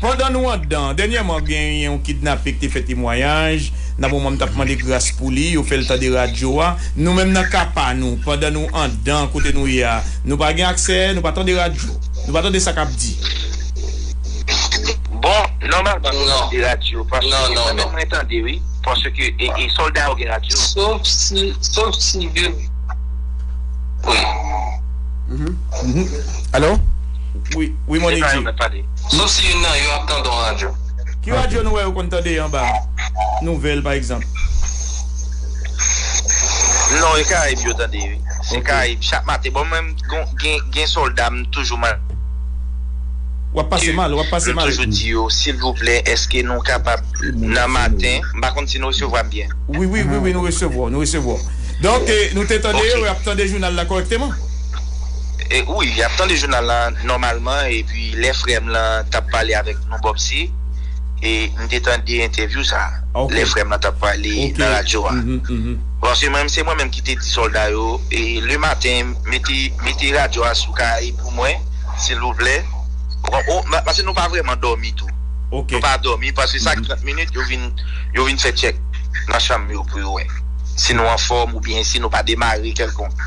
Pandan nou andan, dènyèman gen yon kidnape ki te fè temwayaj, nan moman m t ap mande gras pou li, yo fè l tande radyo a. Nou menm nan ka pa nou, pandan nou andan kote nou ye a, nou pa gen aksè, nou pa tande radyo. Nou pa tande sa k ap di. Bon, nòmalman nou tande radyo, paske mwen menm mwen tande wi, paske e sòlda yo gen radyo. Sof si, sof si yo wi. Alo? Wi, wi mwen li di. Sauf si youn nan yo ap tande yon radyo. Ki radyo nou wè yo konn tande anba nouvèl pa egzanp? Non e karayib yo tande wi se karayib chak maten bon mwen gen solda m toujou mande yo Wap pase mal wap pase mal. M toujou di yo silvouplè eske nou kapab nan maten m pa konn si nou resevwa m byen. Wi wi wi nou resevwa w nou resevwa w donk nou te tande yo yo ap tande jounal la kòrèkteman. Wi yap tande jounal la nòmalman epi lè frèm lan tap pale avèk nou Bobsy e m te tande entèvyou sa lè frèm lan tap pale nan radyo a paske mwen se mwen menm ki te di sòlda yo e le maten mete mete radyo a sou kay pou mwen silvouplè paske nou pa vrèman dòmi tou nou pa dòmi pase chak 30 minit yo vin yo vin fè tchèk nan chanm yo pou yo wè si nou anfòm oubyen si nou pa demare kèlkonk.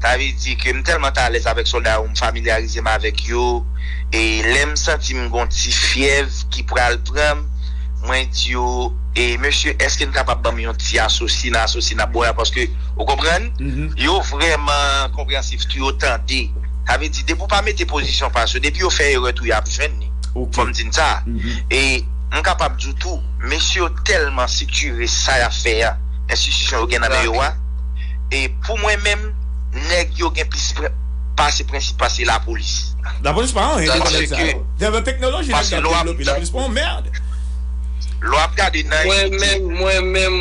Sa vle di ke m tèlman t alèz avèk sòlda yo, m familyarize m avèk yo, e lè m santi m gen yon ti fyèv ki pral pran m, mwen di yo, e mesye, èske n kapab ban m yon ti asosi nan asosi n ap bwè a, paske, ou konprann? Yo vrèman konpreyansif tou, yo tande. Sa vle di, depi w pa mete pozisyon pa sou, depi yo fè erè tou, y ap jwenn li. Fò m di n sa. E m kapab di w tou, mesye yo tèlman siktire sa y ap fè a, enstitisyon yo gen nan men yo a, e pou mwen menm nèg yo gen plis pase prensip pase lapolis. Lapolis pa anyen devan nèg sa yo. Devan teknoloji nèg sa ap devlope lapolis pa yon merd. Lè w ap gade nan inite. Mwen menm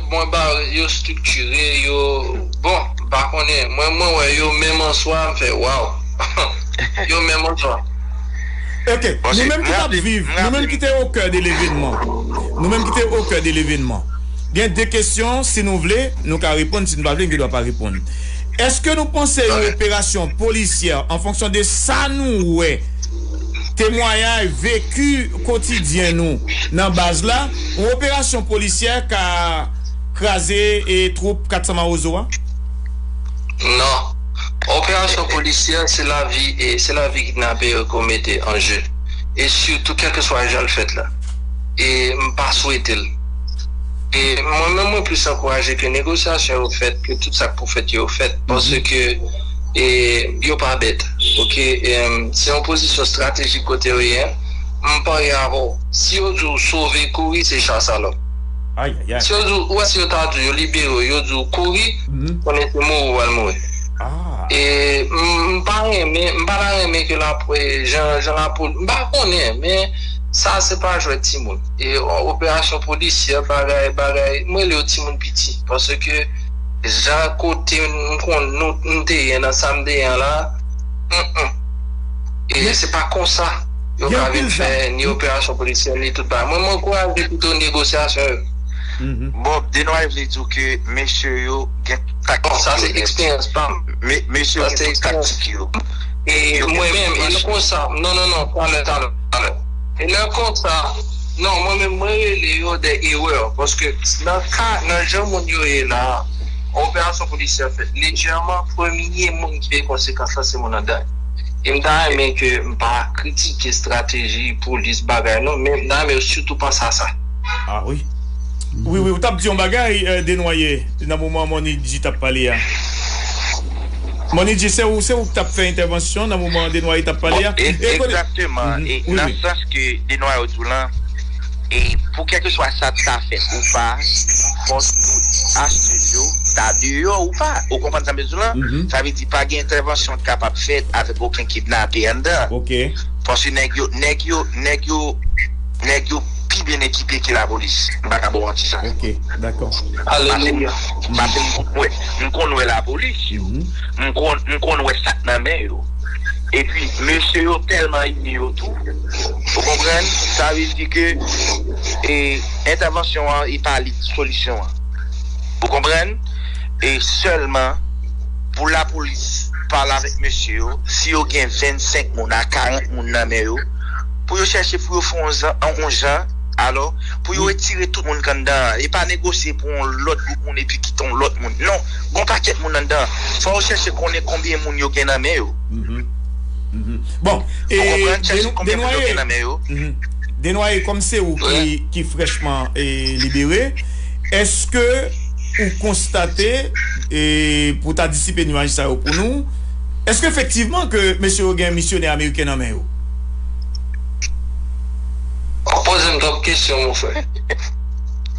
mwen ba yo striktire yo bon m pa konnen mwen mwen wè yo menm an swa m fè waw yo menm an swa. Ok nou menm ki tap viv nou menm ki te o kè de levenman nou menm ki te o kè de levenman. Gen de kesyon, si nou vle, nou ka reponn, si nou pa vle, nou gen dwa pa reponn. Eske nou panse yon operasyon polisyè an fonksyon de sa nou wè, temwayay, veki kotidyen nou nan baz la, yon operasyon polisyè ka kraze twoup 400 mawozo a? Non. Operasyon polisyè se lavi e se lavi kidnape yo ke w mete an je. E sitou kèlkeswa jan l fèt la. E m pa swete l. Mwen menm mwen plis ankouraje ke negosyasyon yo fèt, ke tout sa k pou fèt yo fèt paske yo pa bèt ok, se yon pozisyon estratejik kote yo ye m parye avè w si yo di w sove kouri se chasalòp si yo di w, ou wè si yo ta di w yo libere w yo di w kouri konnen se mouri w pral mouri e m pa renmen m pa ta renmen ke jan lapolis m pa konnen men sa se pa jwèt timoun. E yon operasyon polisyè bagay bagay m rele yo ti moun piti paske jan kote m konn nou m te ye nan sa m te ye an la hum e se pa konsa yo ka vin fè ni operasyon polisyè ni tout bagay mwen m ankouraje pito negosyasyon yo. Bob Denoy vle di w ke mesye yo gen tout taktik yo nèt. Sa se eksperyans pa m. Mesye yo gen tout taktik yo. E mwen menm e se konsa non non non talè talè. E lè konsa, non mwen menm mwen rele yo dè erreurs paske nan ka nan jan moun yo ye la a, operasyon polisye a fèt lejèman, premye moun ki peye konsekans la se moun an gang. E m ta renmen ke m pa kritike estrateji polis bagay non men m ta renmen yo sitou panse a sa. Ah wi. Wi wi ou tap di yon bagay Denoye nan moman Mony-G tap pale a. Monidji se ou se ou k tap fè entèvansyon nan moman Denoye tap pale a e konnen Egzakteman e nan sans ke Denoye di w lan e pou kèlkeswa sa t ka fèt ou pa fò tout achtè yo ta deyò ou pa ou konprann sa m vle di w lan sa vle di pa gen entèvansyon k kapab fèt avèk oken kidnape anndan paske nèg yo nèg yo nèg yo nèg yo pi byen ekipe ke lapolis m pa ka ba w manti sa paske m paske m kwè. m konn wè lapolis yo, m konn m konn wè sak nan men yo. Epi mesye yo tèlman ini yo tou, ou konprann, sa vle di ke e entèvansyon an e pa li ki solisyon an. Ou konprann? E sèlman pou lapolis pale avèk mesye yo, si yo gen 25 moun a 40 moun nan men yo, pou yo chèche pou yo fè yon jan, alò, pou yo etire tout moun k anndan an e pa negosye pou yon lòt gwoup moun. moun epi kite yon lòt moun non gen yon pakèt moun anndan fò yo chèche konnen konbyen moun yo gen nan men yo bon Denoye kòm se ou ki frèchman libere eske ou konstate pou ta disipe nwaj sa yo pou nou eske efektivman ke mesye yo gen misyonè ameriken nan men yo ou poze m twòp kesyon mon frè.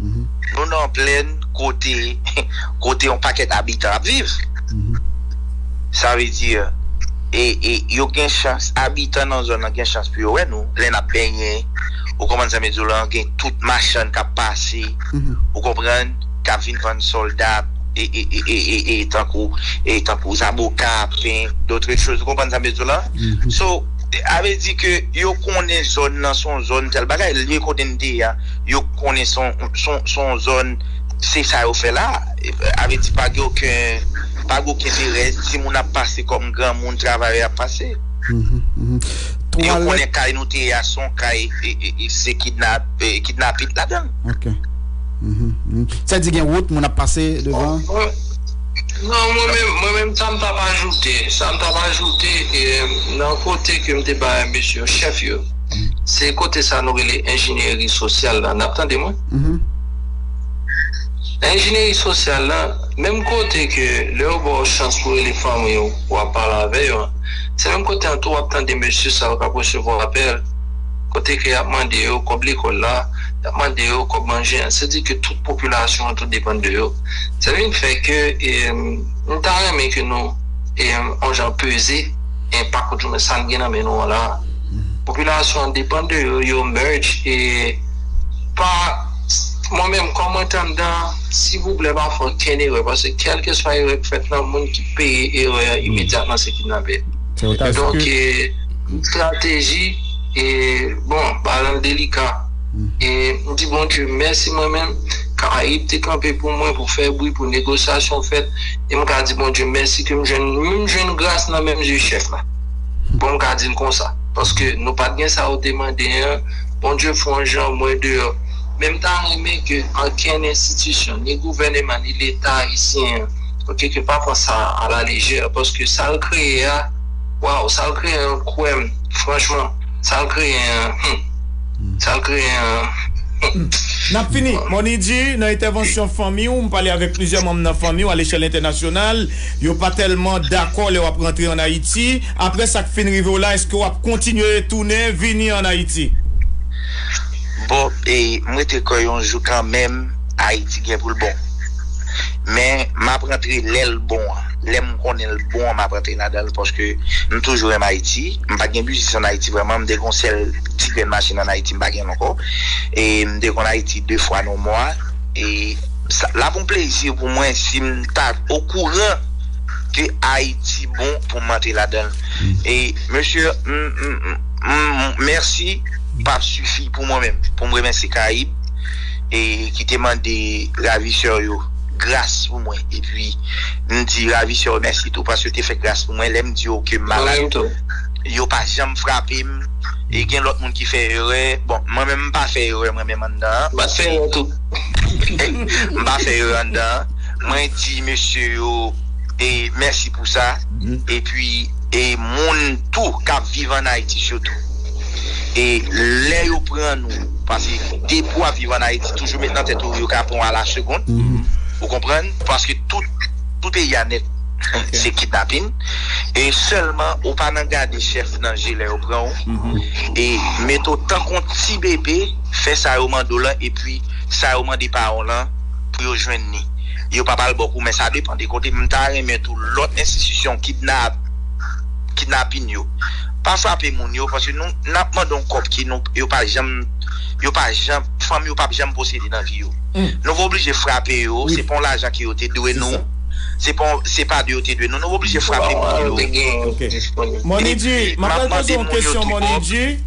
Nou nan plèn kote kote yon pakèt abitan ap viv. Sa vle di e e yo gen chans abitan nan zòn nan gen chans pou yo wè nou lè n ap benyen. Ou konprann sa m vle di w lan? Gen tout machann k ap pase, ou konprann, k ap vin vann sòlda e e e e e tankou e tankou zaboka, pen, dotre choz. Ou konprann sa m vle di w lan? So, sa vle di ke yo konnen zòn nan se yon zòn tèl bagay. Lye kote n te ye a, yo konnen son zòn se sa yo fè la avle di pa gen oken pa gen oken erè ti moun ap pase kòm gran moun travayè ap pase yo konnen kay nou te ye a son kay se kidnapit ladan l sa di gen wout moun ap pase devan nan mwen menm sa m tap ajoute sa m tap ajoute nan kote ke m te bay mesye yo chèf yo. Se kote sa nou rele enjinyeri sosyal la, nap tande mwen? Nan enjinyeri sosyal la, menm kote ke lè yo ba w chans pou rele fanmi w pou wap pale avè yo an, se menm kote an tou wap tande mesye sa yo kap resevwa apèl, kote ke yap mande yo kòb lekòl la, yap mande yo kòb manje an, se di ke tout popilasyon an tou depann de yo. Sa vin fè ke m ta renmen ke nou on jan peze enpak ou di mwen sa n gen nan men nou an la a. Popilasyon an depan de yo, yo merge e pa mwen menm kòm mwen te anndan silvouplè pa fè okenn erè paske kèlkeswa erè ki fèt la moun ki peye erè a imedyatman se kidnapè. Donk e estrateji e bon bagay an delika e m di Bondye mèsi mwen menm karayib te kanpe pou mwen pou fè bri pou negosyasyon fèt e m ka di Bondye mèsi ke m jwenn menm jwenn gras nan menm zye chèf la. Bon m ka di n konsa. Paske nou pat gen sa ou te mande an, Bondye fè on jan mwen deyò. Men m ta renmen ke ankenn enstitisyon, ni gouvèneman, ni leta ayisyen an, ok, ke pa pran sa a la lejè. Paske sa l kreye a, waw, sa l kreye an kwè m, franchman, sa l kreye an, hum, sa l kreye an, hum. N ap fini. Mony Dji, nan entèvansyon fanmi ou, m pale avèk plizyè manm nan fanmi ou alechèl entènasyonal. Yo pa tèlman dakò lè w ap rantre an Ayiti. Apre sa k fin rive w la, èske w ap kontinye tounen vini an Ayiti? Bon, m rete kwè yon jou kanmenm Ayiti gen pou l bon. Men, m ap rantre lè l bon an. Lè m konnen l bon an, m ap rantre ladan l paske m toujou renmen Ayiti. M pa t gen biznis an Ayiti vrèman. M te gen yon sèl ti grenn machin an Ayiti, m pa gen l ankò. E m te konn Ayiti de fwa nan mwa. Lap yon plezi pou mwen sim ta okouran ke ayiti bon pou m antre ladanl e mesye m mèsi pap sifi pou mwen menm pou m remèsye karayib e ki te mande ravisè yo gras pou mwen epi m di ravisè yo mèsi tou paske yo te fè gras pou mwen lèm di yo kem malad yo pa janm frape m e gen lòt moun ki fè erè bon mwen menm m pa fè erè mwen menm anndan an. M pa fè yo anndan. Mwen di mesye yo mèsi pou sa. Epi e moun tou k ap viv ann Ayiti sitou. E lè yo pran nou, paske depi w ap viv ann Ayiti, toujou met nan tèt ou yo ka pran w alasegond. Ou konprann? Paske tout peyi a nèt se kidnapin. E sèlman ou pa nan gade chèf nan je lè yo pran ou. E mete w tankou yon ti bebe. fè sa yo mande w lan epi sa yo mande paran w lan pou yo jwenn ni yo pa pral ba w kou men sa depan de kote m ta renmen tou lòt enstitisyon kidnap kidnapin yo pa frape moun yo paske nou n ap mande yon kòb ki nou yo pa janm yo pa janm fanmi yo pap janm posede nan vi yo nou va oblije frape yo se pa yon lajan ke yo te dwe nou se pa yon se pa de yo te dwe nou nou va oblije frape moun yo Money G m ap pral poze w yon kesyon Money G.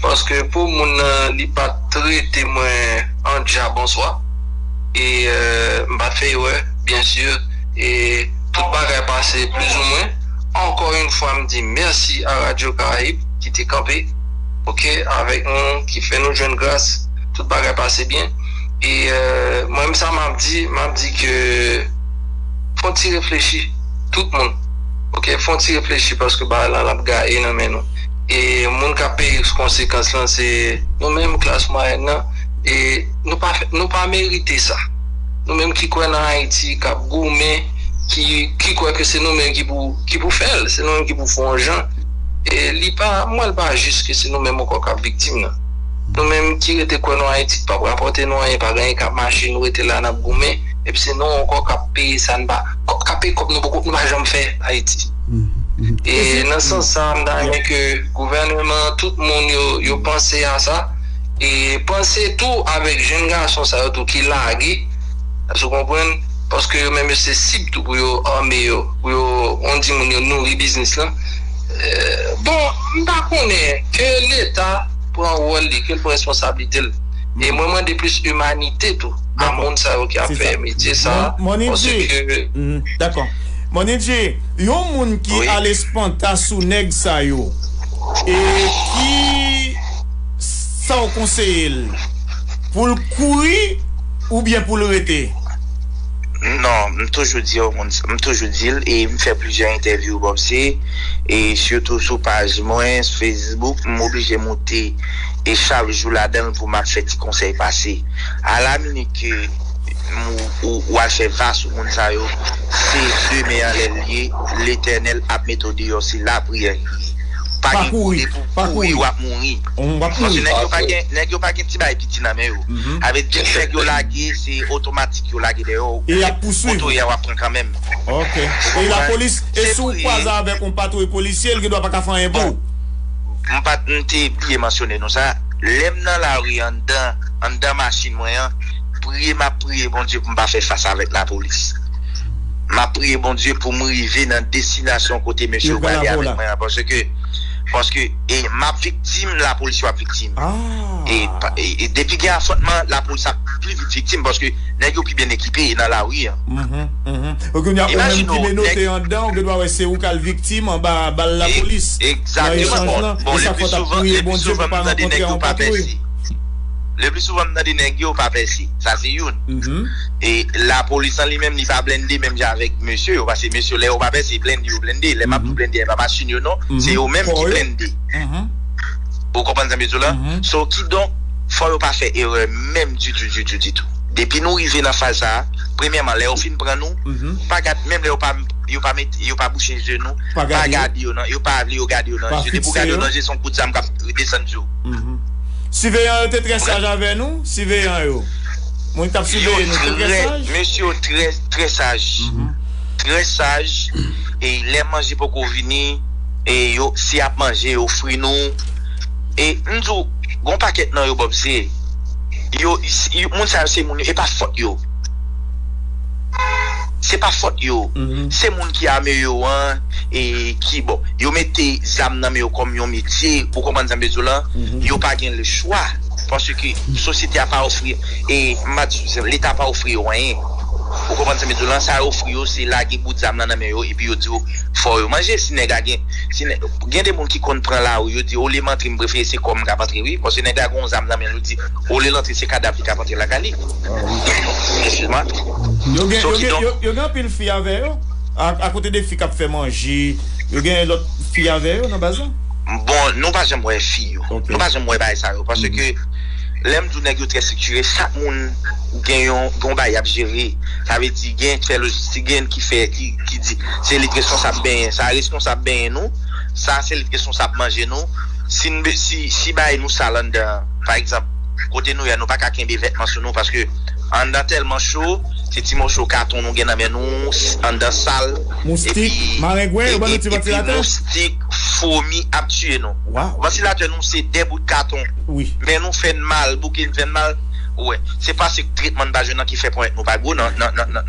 Paske pou moun nan li pat trete mwen an dja bonswa e m pat fè erè byen si e tout bagay pase plizoumwen ankò yn fwa m di mèsi a radyo karayib ki te kanpe ok avèk nou ki fè nou jwenn gras tout bagay pase byen e mwen m sa map di map di ke fon ti reflechi tout moun ok fon ti reflechi paske bagay lan lap gaye nan men nou. e moun kap peye konsekans lan se nou menm klas mwayèn nan e nou pa merite sa nou menm ki kwè nan Ayiti kap goumen ki kwè ke se nou menm ki pou fèl se nou menm ki pou fè yon jan e li pa mwen li pa jis ke se nou menm ankò kap viktim nan nou menm ki rete kwè nan Ayiti ki pap rapòte nou anyen pa gen anyen kap mache nou rete la nap goumen epi se nou ankò kap peye sa nou pa kap peye kòb nou pa janm fè Ayiti. E nan sans sa a m ta renmen ke gouvèneman an, tout moun yo, yo panse a sa e panse tou avèk jenn gason sa yo tou ki lage, èske ou konprann, paske yo menm yo se sib tou pou yo ame yo, pou yo, on di moun yo nouri biznis lan. Bon, m ta konnen, ke leta pran wòl li, ke l pran responsablite l e mwen mande plis imanite tou a moun sa yo ki ap fè metye sa a, paske. Dako. Manidje, yon moun ki al espanta sou nèg sa yo, e ki sa w konseye l? Pou l kouri oubyen pou l rete? Non, m toujou di yo moun sa, m toujou di l e m fè plizyè entèvyou bò bse e sitou sou paj mwen sou Facebook, m oblije moute e chak jou ladan l pou m ap fè ti konsèy pase. A la minit ke. ou al fè va sou moun sa yo se demen anlè l ye letènèl ap mete w deyò se lapriyè ki ye pa gen kote pou kouri wap mouri paske nèg yo pa gen nèg yo pa gen ti bagay piti nan men yo avèk tout nèg yo lage se otomatik yo lage deyò w e yap pousuiv ou kotoye a wap pran kanmenm ok e lapolis e si w kwaze avèk yon patwouy polisye l gendwa pa ka fè anyen pou ou. M pat m te bliye mansyone nou sa lè m nan lari anndan anndan machin mwen an. priye map priye Bondye poum pa fè fas avèk la polis map priye Bondye poum rive nan destinasyon kote mesye yo prale avèk mwen an paske paske e map viktim la polis yo ap viktim e depi gen afrontman la polis ap pli vit viktim paske nèg yo pi byen ekipe e nan lari an e kounya ou menm ki menote andan ou gen dwa wè se ou kal viktim anba bal la polis nan echanj lan e sa fòt ap priye Bondye pou pa rankontre anba patwouy. Le pli souvan m tande nèg yo pa pèse. Sa se youn. E lapolis an li menm li pa blende menm jan avèk mesye yo. Pase mesye yo lè yo pa pèse, blende yo blende. Lè m ap di w blende a e pa machin yo non. Se yo menm ki blende. Ou konprann sa m vle di w la? So kidonk fò yo pa fè erè menm ditou ditou ditou. Depi nou rive nan faz sa a, premyèman lè yo fin pran nou, pa gad menm lè yo pa yo pa mete yo pa bouche je nou, pa gade yo nan yo pa vle yo gade yo nan je. Depi w gade yo nan je se yon kout zam k ap desann sou ou. Siveyan yo te trè saj avè nou? Siveyan yo, moun k t ap siveye nou, te trè saj? Mesye yo trè, trè saj. Trè saj. E lè manje poko vini, e yo, si y ap manje, yo ofri nou. E m di w, gen yon pakèt nan yo, Bob, se, yo, moun sa yo se moun yo, e pa fòt yo. se pa fòt yo se moun ki ame yo an ki bon yo mete zam nan men yo kòm yon metye ou konprann sa m vle di w lan yo pa gen le chwa paske sosyete a pa ofri m pa di leta pa ofri yo anyen ou konprann sa m vle di w lan sa yo ofri yo se lage bout zam nan nan men yo epi yo di w fò yo manje si nèg la gen gen de moun ki konn pran lari yo di olye m antre m prefere se kò m k ap antre wi paske nèg la gen yon zam nan men l yo di olye l antre se kadav li k ap antre lakay li. Yo gen yo gen anpil fi avè yo a kote de fi kap fè manje yo gen lòt fi avè yo nan baz lan? Bon nou pa janm wè fi yo nou pa janm wè bagay sa yo paske lèm di w nèg yo trè siktire chak moun gen yon gon bagay yap jere sa vle di gen ki fè lojistik gen yon ki fè ki di se li ki responsab benyen sa responsab benyen nou sa se li ki responsab manje nou si bagay nou sal anndan pa egzanp. Kote nou ye a nou paka kenbe vètman sou nou paske anndan tèlman cho se ti moso katon nou gen nan men nou anndan sal Moustik, marengwen, yo ban nou ti vantilatè? Epi moustik, fwomi ap tiye nou. Vantilatè nou se 2 bout katon men nou fè n mal, bouke n fè n mal ou wè. Se pase tretman n pa jwenn nan ki fè ponyèt nou pa gwo nan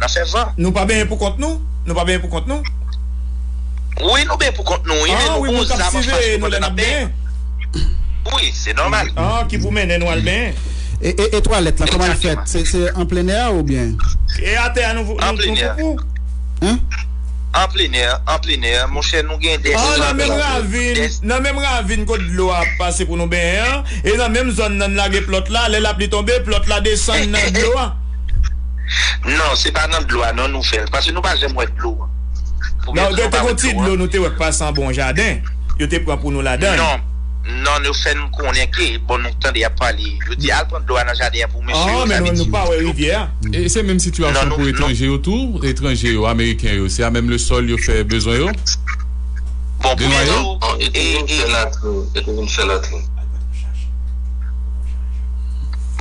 fè van. Nou pa benyen pou kont nou? Nou pa benyen pou kont nou? Wi nou benyen pou kont nou wi men nou gon zam anfas nou pandan n ap benyen. Ui se nòmal. Ah ki pou mennen nou al benyen. E twalèt la koman l fèt se an plenè a oubyen. E atè a nou poupou. An plenè an plenè monchè nou gen de sèl nan menm ravin nan menm ravin kot dlo a ap pase pou nou benyen an e nan menm zòn nan n lage plòt la lè lapli tonbe plòt la desann nan dlo a. Non se pa nan dlo a non nou fèl paske nou pa janm wè dlo an. Nan te gon ti dlo nou te wè k pase anba yon jaden. yo te pran pou nou ladan l. Non, yo fè n konnen ke, bon nou tande y ap pale, yo di al pran dlo a nan jaden an pou mesye yo, sa vle di yo di dlo. E se menm sitiyasyon pou etranje yo tou? Etranje yo, ameriken yo, se a menm le sòl yo fè bezwen yo? Bon pou mwen di w, e te vin fè latrin, e te vin fè latrin.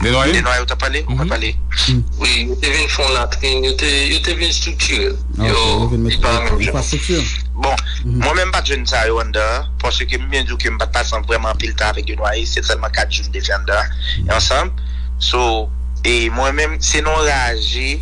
Denwayo? Denwayo w t ap pale? Ou pa pale? Wi, yo te vin fè yon latrin, yo te vin estriktire l. Yo, li pa menm jan. Bon, mwen menm m pa t jwenn sa yo anndan an, paske m byen di w ke m pa t pase vrèman anpil tan avèk Denoye, se sèlman 4 jou m te fè anndan an, ansanm. So, e mwen menm, se non raje,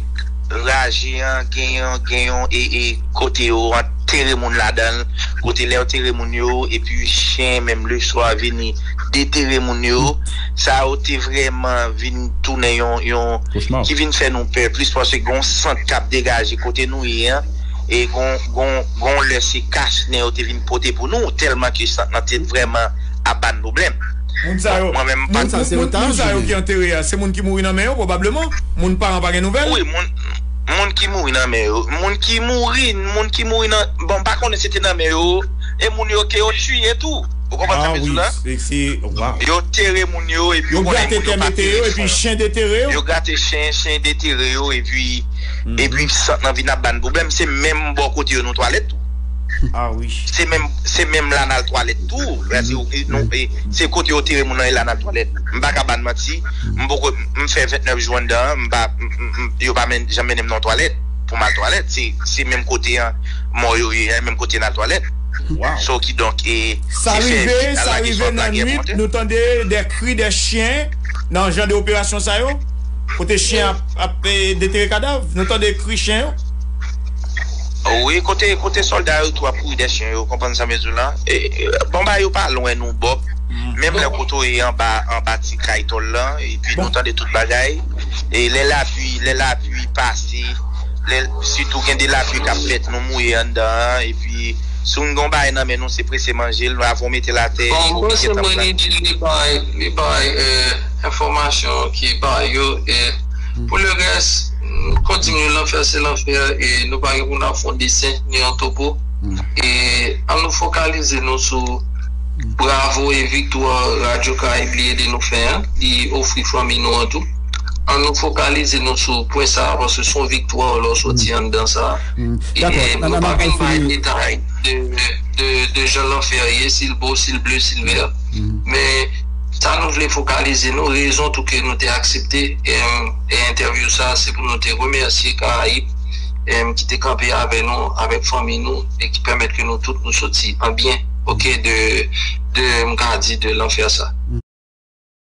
raje an gen yon, gen yon e, e kote yo antere moun ladan l, kote lè yo tere moun yo, epi chen menm leswa vini detere moun yo, sa yo te vrèman vin tounen yon, yon, ki vin fè nou pè plis, paske gen yon sant k ap degaje kote nou ye an. e gonw lè se kach nen yo te vin pote pou nou tèlman ke sant lan te vrèman ap bann pwoblèm Moun sa yo Moun sa yo ki antere a se moun ki mouri nan men yo pwobableman Moun paran pa gen nouvèl? Wi moun ki mouri nan men yo Moun ki mouri Moun ki mouri nan Bon m pa konnen se te nan men yo E moun yo ke yo tiye tou Ou konprann sa m vle di w la? Ah wi Waww Yo tere moun yo epi Yo grate tè mete yo epi chen detere yo Yo grate chen chen detere yo epi epi sant lan vin ap ba n pwoblèm se menm bò kote yo nou twalèt tou se menm la n al twalèt tou se kote yo tere moun lan e la n al twalèt m pa ka ba n manti m fè 29 jou anndan an yo pa janm mennen m nan yon twalèt pou m al twalèt se menm kote an mò yo ye a e menm kote n al twalèt so ki donk e sa rive sa rive nan nwit nou tande de kri de chyen nan jan de operasyon sa yo Kote chien ap detere kadav nou tande kri chien yo. Wi kote solda yo tou ap kouri dè chien yo konprann sa mezou la bon bagay yo pa lwen nou bob menm lè koto ye anba anba ti kay tòl la epi nou tande tout bagay e lè lapui lè lapui pase lè sitou gen de lapui kap fèt nou mouye anndan an epi si nou gon bagay nan men nou se prese manjel avan ou metel atè ou oblije tanprann. enfòmasyon ki ba yo e pou le rès nou kontinye lanfè se lanfè e nou pa gen pou nou ap fon desen ni yon topo e an nou fokalize nou sou bravo e viktwa radyo karayib li ede nou fè an li ofri fanmi nou an tou an nou fokalize nou sou pwen sa a paske son viktwa lè ou soti anndan sa a e nou pa vin bay detay de jan lanfè ye si l bon si l ble si l vè men Sa nou vle fokalize nou, rezon tou ke nou te aksepte entèvyou sa se pou nou te remèsye Karayib ki te kanpe avè nou, avèk fanmi nou e ki pèmèt ke nou tout nou soti an byen ok de m ka di de lanfè sa.